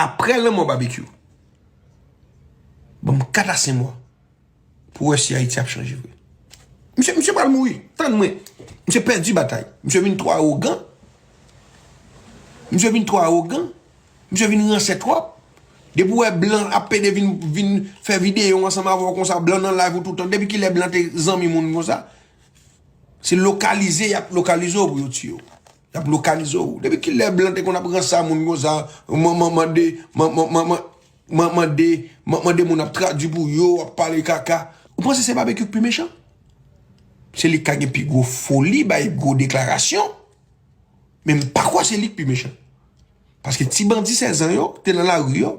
Aprè lanmò Babekyou, ban m 4 a 5 mwa pou wè si Ayiti ap chanje vre. Misye, misye pral mouri. Tann mwen. Misye pèdi batay. Misye vin twò awogan. Misye vin twò awogan. Misye vin ransè twòp. Depi ou wè blan ap pede vin, vin fè videyo ansanm avè w konsa, blan nan live ou toutan. Depi ki lè blan te zanmi moun konsa? Se lokalize y ap lokalize w pou yo tiye w. Yap lokalize w. Depi kilè blan te konn ap ransa moun konsa, manman mande, manman manman manman mande, manman mande moun ap tradwi pou yo, ap pale kaka. Ou panse se Babekyou k pi mechan? Se li k ka gen pi gwo foli bay gwo deklarasyon, men m pa kwè se li k pi mechan. Paske ti bandi 16 zan yo te nan lari yo,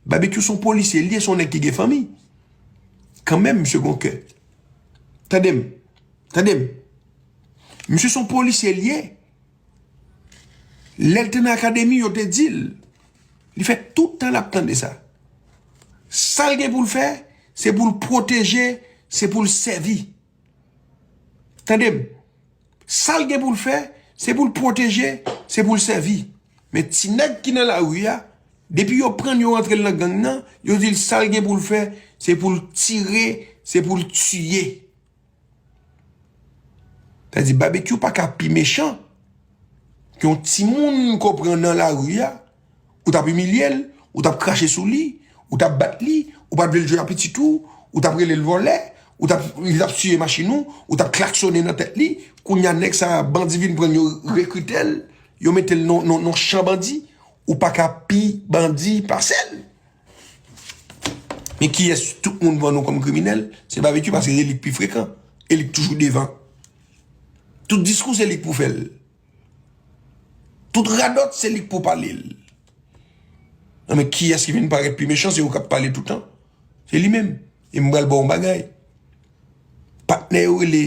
Babekyou son polisye l ye, son nèg ki gen fanmi. Kanmenm misye gon kè. Tande m, tande m, Misye son polisye li ye. Lè l te nan akademi yo te di l. Li fè tout tan l ap tande sa. Sa l gen pou l fè, se pou l pwoteje, se pou l sèvi. Tande m. Sa l gen pou l fè, se pou l pwoteje, se pou l sèvi. Men ti nèg ki nan lari a, depi yo pran l yo rantre l nan gang nan, yo di l sa l gen pou l fè, se pou l tire, se pou l tiye. Sa vle di Babekyou pa ka pi mechan ke yon timoun ke w pran nan lari a, ou t ap imilye l, ou t ap krache sou li, ou t ap bat li, ou pa t vle l jwe ak pitit ou, ou t ap rele l vòlè, ou t ap li t ap siye machin ou, ou t ap klaksone nan tèt li, kounye a nèg sa a bandi vin pran l yo rekrite l, yo mete l nan yon chan bandi, ou pa ka pi bandi pase l. Men kiyès tout moun vann ou kòm kriminèl? Se Babetue paske se li k pi frekan e li k toujou devan. Tout diskou se li k pou fè l. Tout radòt se li k pou pale l. Nan men kiyès ki vin parèt pi mechan se ou k ap pale toutan. Se li menm. E m pral ba w yon bagay. Patnè yo rele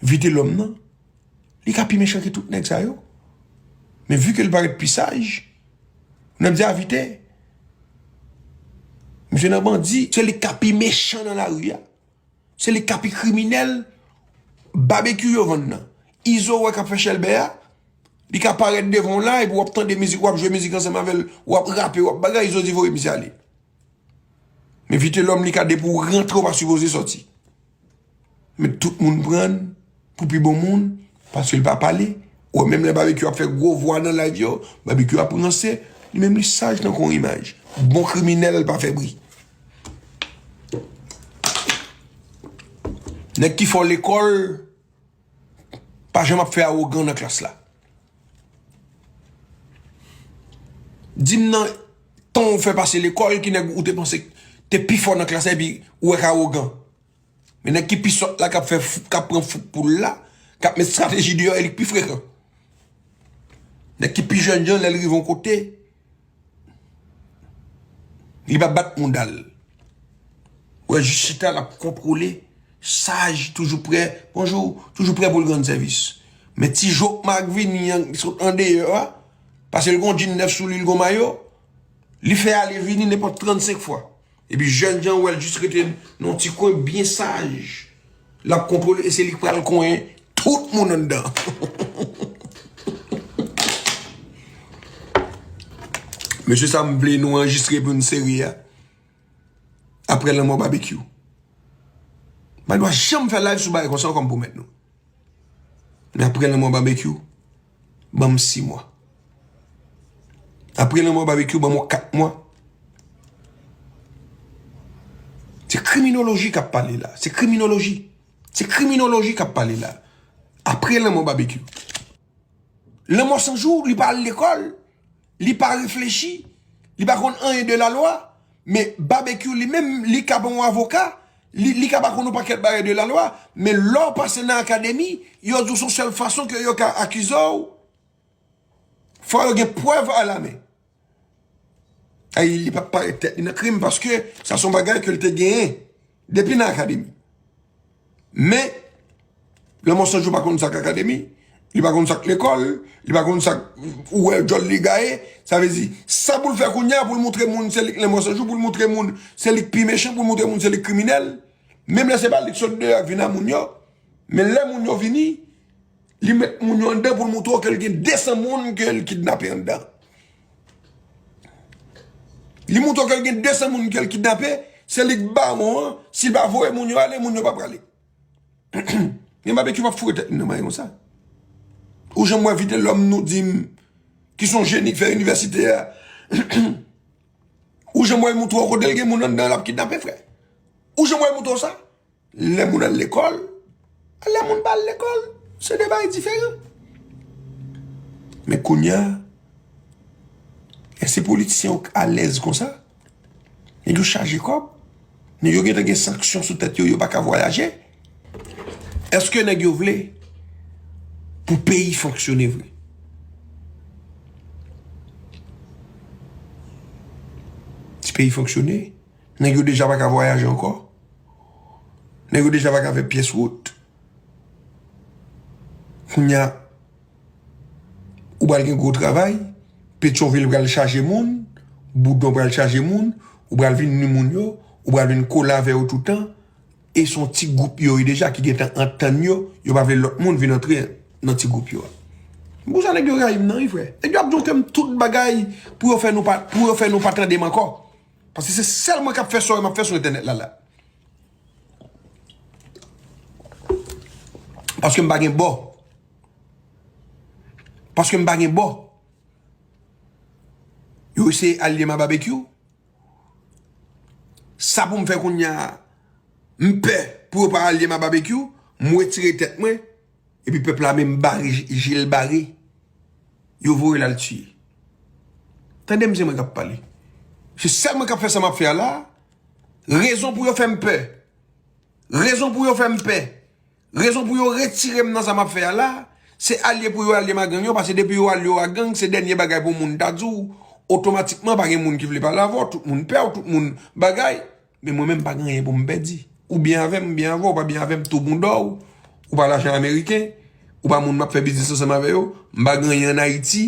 Vitelòm nan. Li ka pi mechan ke tout nèg sa yo. Men vu ke li parèt pi saj, nan di avite, misye nan bandi, se li ka pi mechan nan la ri a. Se li ka pi kriminèl, babekyou yo vann nan. Izo wè kap fè chèlbè a, li ka parèt devan w la, epi wap tande mizik, wap jwe mizik ansanm avèl, wap rape, wap bagay, izo di voye misye ale. Men vitelòm li ka depi w rantre w pa sipoze sòti. Men tout moun prann pou pi bon moun paske li pa pale. Ou wè menm lè Babekyou ap fè gwo vwa nan live yo, Babekyou ap ranse. Li menm li saj tankou yon imaj. Bon kriminèl pa fè bri. Nèg ki fò lekòl. Pa janm ap fè awogan nan klas la. Di m nan tan ou fè pase lekòl ki nèg ou te panse k te pi fò nan klas la epi ou wè k awogan. Men nèg ki pi sòt la k ap fè fouk, k ap pran fouk pou l la, k ap met estrateji deyò e li k pi frekan. Nèg ki pi jènjan lè l rive yon kote. Li pa bat moudal. Ou wè jis chita lap kontwole, saj, toujou prè, bonjou, toujou prè pou l rann sèvis. Men ti jok mak vini an ki sot andeyò a, pase l gon djin nèf sou li, l gon mayo, li fè ale vini nenpòt 35 fwa. Epi jènjan ou wè l jis rete nan yon ti kwen byen saj. L ap kontwole e se li k pral konyen tout moun anndan. Mesye sa m vle nou anrejistre pou n seri a aprè lanmò Babekyou. M pa dwa janm fè live sou bagay konsa ankò m pwomèt nou. Men aprè lanmò Babekyou. Ban m 6 mwa. Apre lanmò Babekyou ban m yon 4 mwa. Se kriminoloji k ap pale la. Se kriminoloji. Se kriminoloji k ap pale la. Apre lanmò Babekyou. Lanmò sanjou li pa al lekòl. Li pa reflechi, li pa konn anyen de la lwa, men Babekyou li menm li ka pa yon avoka, li ka pa konn yon pakèt bagay de la lwa, men lè w pase nan akademi, yo di w son sèl fason ke yo ka akize w, fò yo gen prèv a la men. Ayy li pap parèt tèt li nan krim paske sa son bagay ke l te genyen depi nan akademi. Men, lè monsonj yo pa konn sa k akademi, li pa konn sa k lekòl, li pa konn sa k ou wè djòl li gaye, sa vle di, sa pou l fè kounye a pou l montre moun se li k lè monsonj yo, pou l montre moun se li k pi mechan, pou l montre moun se li k kriminèl, menm lè se pa li k sot deyò vin a moun yo, men lè moun yo vini. Li met moun yo anndan pou l moutre w ke l gen 200 moun ke l kidnape anndan. Li moutre w ke l gen 200 moun ke l kidnape, se li k bawon an, si l pa voye moun yo ale, moun yo pa prale. Gen Babekyou pa foure tèt li nan mayi konsa. Ou janm wè Vitelòm nou di m ki son jeni k fè inivèsite a. Ou janm wè l moutre w kote l gen moun anndan l ap kidnape frè? Ou janm wè l moutre w sa? Lè moun al lekòl, ak lè moun pa al lekòl, se 2 bagay diferan. Men kounya, eske politisyen yo alèz konsa? Nèg yo chaje kòb, nèg yo gentan gen sanksyon sou tèt yo, yo pa ka vwayaje. Eske nèg yo vle pou peyi fonksyone vre? Si peyi fonksyone, nèg yo deja pa ka vwayaje ankò. Nèg yo deja pa ka fè pyès wout. Kounye a, ou pral gen gwo travay, Petyonvil pral chaje moun, Boudon pral chaje moun, ou pral vin ni moun yo, ou pral vin kole avè yo toutan, e son ti gwoup yo ye deja ki gentan antann yo, yo pa vle lòt moun vin antre nan ti gwoup yo a. Pou sa nèg yo rayi m nan wi frè. Nèg yo ap jonkè m tout bagay pou yo fè nou pa tande m ankò. Paske se sèl mwen kap fè sore map fè sou entènèt la la. Paske m pa gen bò. Paske m pa gen bò. Yo eseye aliye ma babekyou. Sa pou m fè kounye a. M pè pou yo pa aliye ma babekyou. M wetire tèt mwen. Epi pèp la menm bare jel bare yo voyel al tiye tandem se mwen kap pale se sèl mwen kap fè sa map fè a la rezon pou yo fèm pè rezon pou yo fèm pè rezon pou yo retirem nan sa map fè a la se alye pou yo alyem a gang yo pase depi yo alye yo a gang se dènye bagay pou moun ta diw otomatikman pa gen moun ki vle pale avèw tout moun pèw tout moun bagay. Men mwen menm m pa gen anyen pou m pèdi. Ou byen avè m, m byen avè w, ou pa byen avè m, tou bouda w, ou pa lajan ameriken, ou pa moun m ap fè biznis ansanm avè yo, m pa gen anyen ann Ayiti,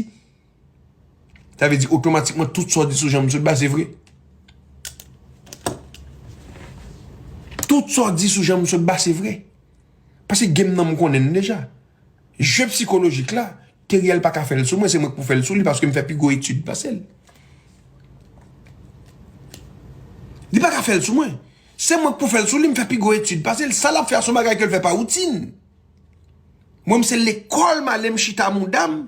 sa vle di otomatikman tout sa w di sou jan m sòt ba se vre? Tout sa w di sou jan m sòt ba se vre? Pase game nan m konnen l deja. Jeu psychologique la, Theriel pa ka fèl sou mwen, se mwen ki pou fèl sou li paske m fè pi gwo etid pase l. Li pa ka fèl sou mwen. Se mwen ki pou fèl sou li, m fè pi gwo etid pase l. Sa l ap fè a se yon bagay ke l fè pa woutin. Mwen m se lekòl m ale m chita mouda m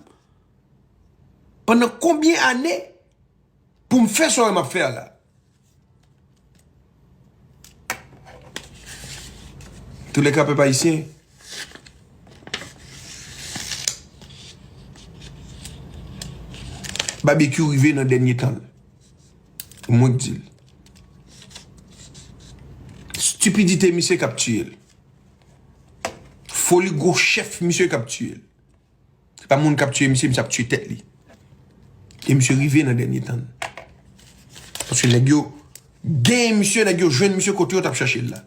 pandan konbyen ane. Pou m fè swa m ap fè a la. Toulèka pèp ayisyen. Babekyou rive nan dènye tan l. Mwen k di l. Stipidite misye k ap tiye l. Foli gwo chèf misye k ap tiye l. Se pa moun kap tiye misye, misye ap tiye tèt li. E misye rive nan dènye tan. Paske nèg yo genyen misye, nèg yo jwenn misye kote yo tap chache l la.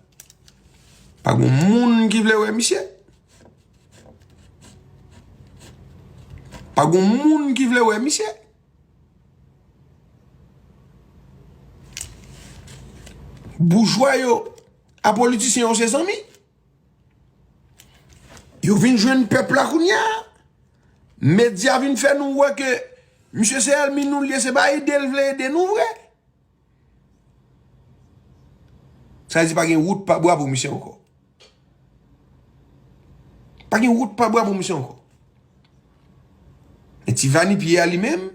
Pa gon moun ki vle wè misye. Pa gon moun ki vle wè misye. Boujwa yo a politisyen yo se zanmi. Yo vin jwenn pèp la kounya. Medya vin fè nou wè ke misye se elmi nou li ye se pa ede l vle ede nou vre. Sa vle di pa gen wout pa bwa pou misye ankò. Pa gen wout pa bwa pou misye ankò. Men ti vani piye a li menm.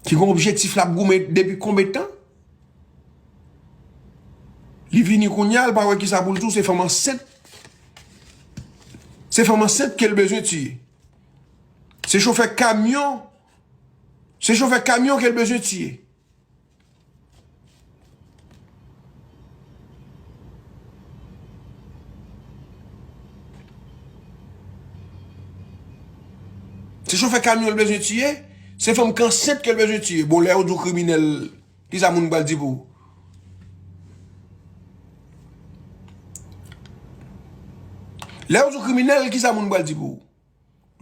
Ki gen objektif lap goumen depi konbe tan. Li vini kounya li pa wè kisa poul tou se fanm ansent. Se fanm ansent kel bezwen tiye. Se chofè kamyon, se chofè kamyon kel bezwen tiye. Se chofè kamyon l bezwen tiye, se fanm ki ansent ke l bezwen tiye. Bon lè yo di w kriminèl, ki sa moun pral di pou ou? Lè yo di w kriminèl, ki sa moun pral di pou ou?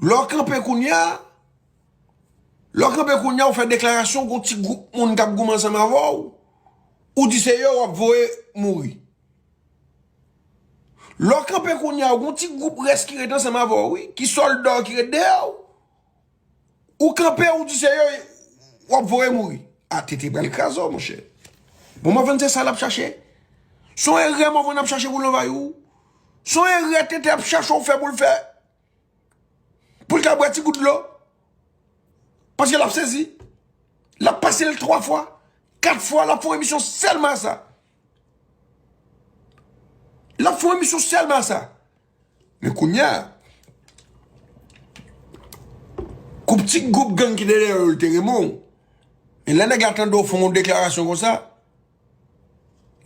Lè w kanpe kounye a, Lè w kanpe kounye a, ou fè deklarasyon gen yon ti gwoup moun k ap goumen ansanm avè w, ou di se yo w ap voye mouri. Lè w kanpe kounye a, gen yon ti gwoup rès ki ret ansanm avè w wi, ki sòlda w ki ret dèyè w, ou kanpe ou di se yo w ap voye mouri. A tete pral kraze w monchè. Bon Mòvann se sa l ap chache. Se yon erè Mòvann ap chache pou l anvayi w. Se yon erè Tete ap chache w fè pou l fè Pou l ka bwè ti gout dlo. Paske l ap sezi. L ap pase l 3 fwa, 4 fwa l ap fè yon emisyon sèlman a sa. L ap fè yon emisyon sèlman a sa. Men kounye a, kou piti gwoup gang ki dèyè yo te renmen w, men lè nèg la tande w fè yon deklarasyon konsa,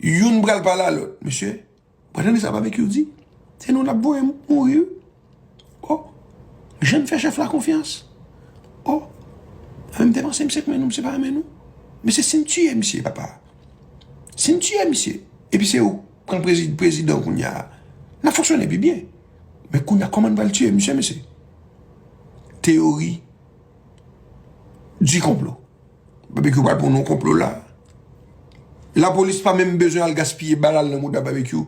Youn pral pale a lòt. Mesye, ou pa tande sa Babekyou di? Se nou l ap voye mouri wi. O! Jan n fè chèf la konfyans. O! Mwen m te panse misye renmen nou, misye pa renmen nou. Mesye, si n tiye misye papa, si n tiye misye, epi se ou k pran prezidan kounye a, n ap fonksyone pi byen. Men kounye a, kòman n pral tiye misye mesye? Teyori di konplo. Babekyou pral pran yon konplo la. La polis pa menm bezwen al gaspiye balal nan mouda babekyou.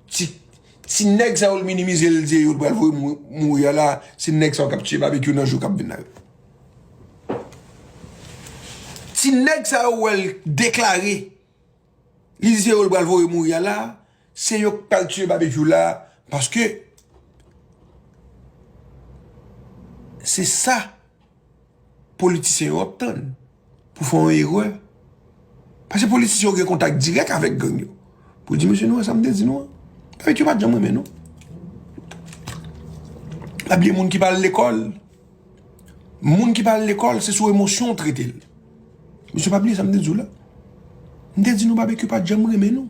Ti Ti nèg sa yo l minimize l di yo pral voye mouri a la se nèg sa yo kap tiye babekyou nan jou kap vin la yo. Ti nèg sa yo wè l deklare. Li di se yo li pral voye mouri a la, se yo ki pral tiye Babekyou la paske se sa politisyen yo ap tann pou fè yon erè. Paske politisyen yo gen kontak dirèk avèk gang yo. Pou yo di mesye nou wè sa m te di nou an. Babekyou pa t janm renmen nou. Pabliye moun ki pa al lekòl. Moun ki pa al lekòl se sou emosyon ou trete l. Mesye pa bliye sa m te di w la. M te di nou Babekyou pa t janm renmen nou.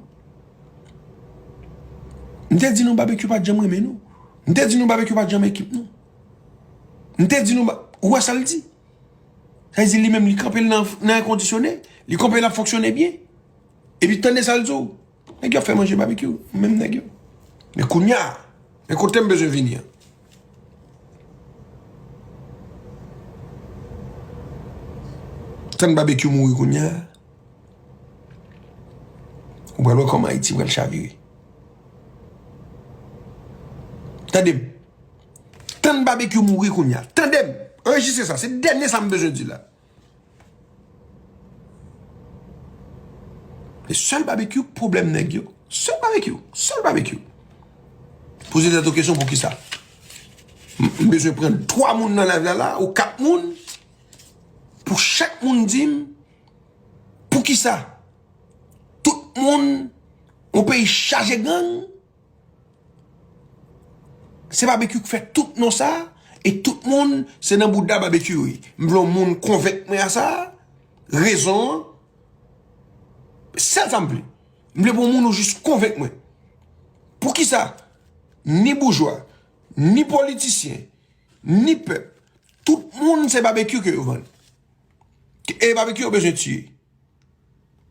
M te di nou Babekyou pa t janm renmen nou. M te di nou Babekyou pa t janm ekip nou. M te di nou ba, ou wè sa l di? Sa vle di li menm li kanpe l nan èkondisyone, li kanpe l ap fonksyone byen. Epi tande sa l di w. Nèg yo ap fè manje babekyou, menm nèg yo. Men kounya, men kote m bezwen vini an. Tann babekyou mouri kounya, ou pral wè kòman Ayiti pral chavire. Tande m, tann babekyou mouri kounya, tande m, anrejistre sa, se dènye sa m bezwen di la. E sèl babekyou pwoblèm nèg yo. Sèl babekyou. Sèl babekyou. Poze tèt ou kesyon pou ki sa. M bezwen pran 3 moun nan live la la ou 4 moun pou chak moun di m pou ki sa. Tout moun ou peyi chaje gang. Se babekyou k fè tout non sa e tout moun se nan bouda babekyou yo ye m vle yon moun konvenk mwen a sa rezon an sèl sa m vle m vle pou yon moun ou jis konvenk mwen poukisa ni boujwa ni politisyen ni pèp tout moun se babekyou ke yo vann e babekyou yo bezwen tiye.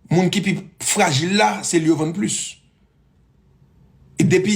Moun ki pi frajil la se li yo vann plis. Depi.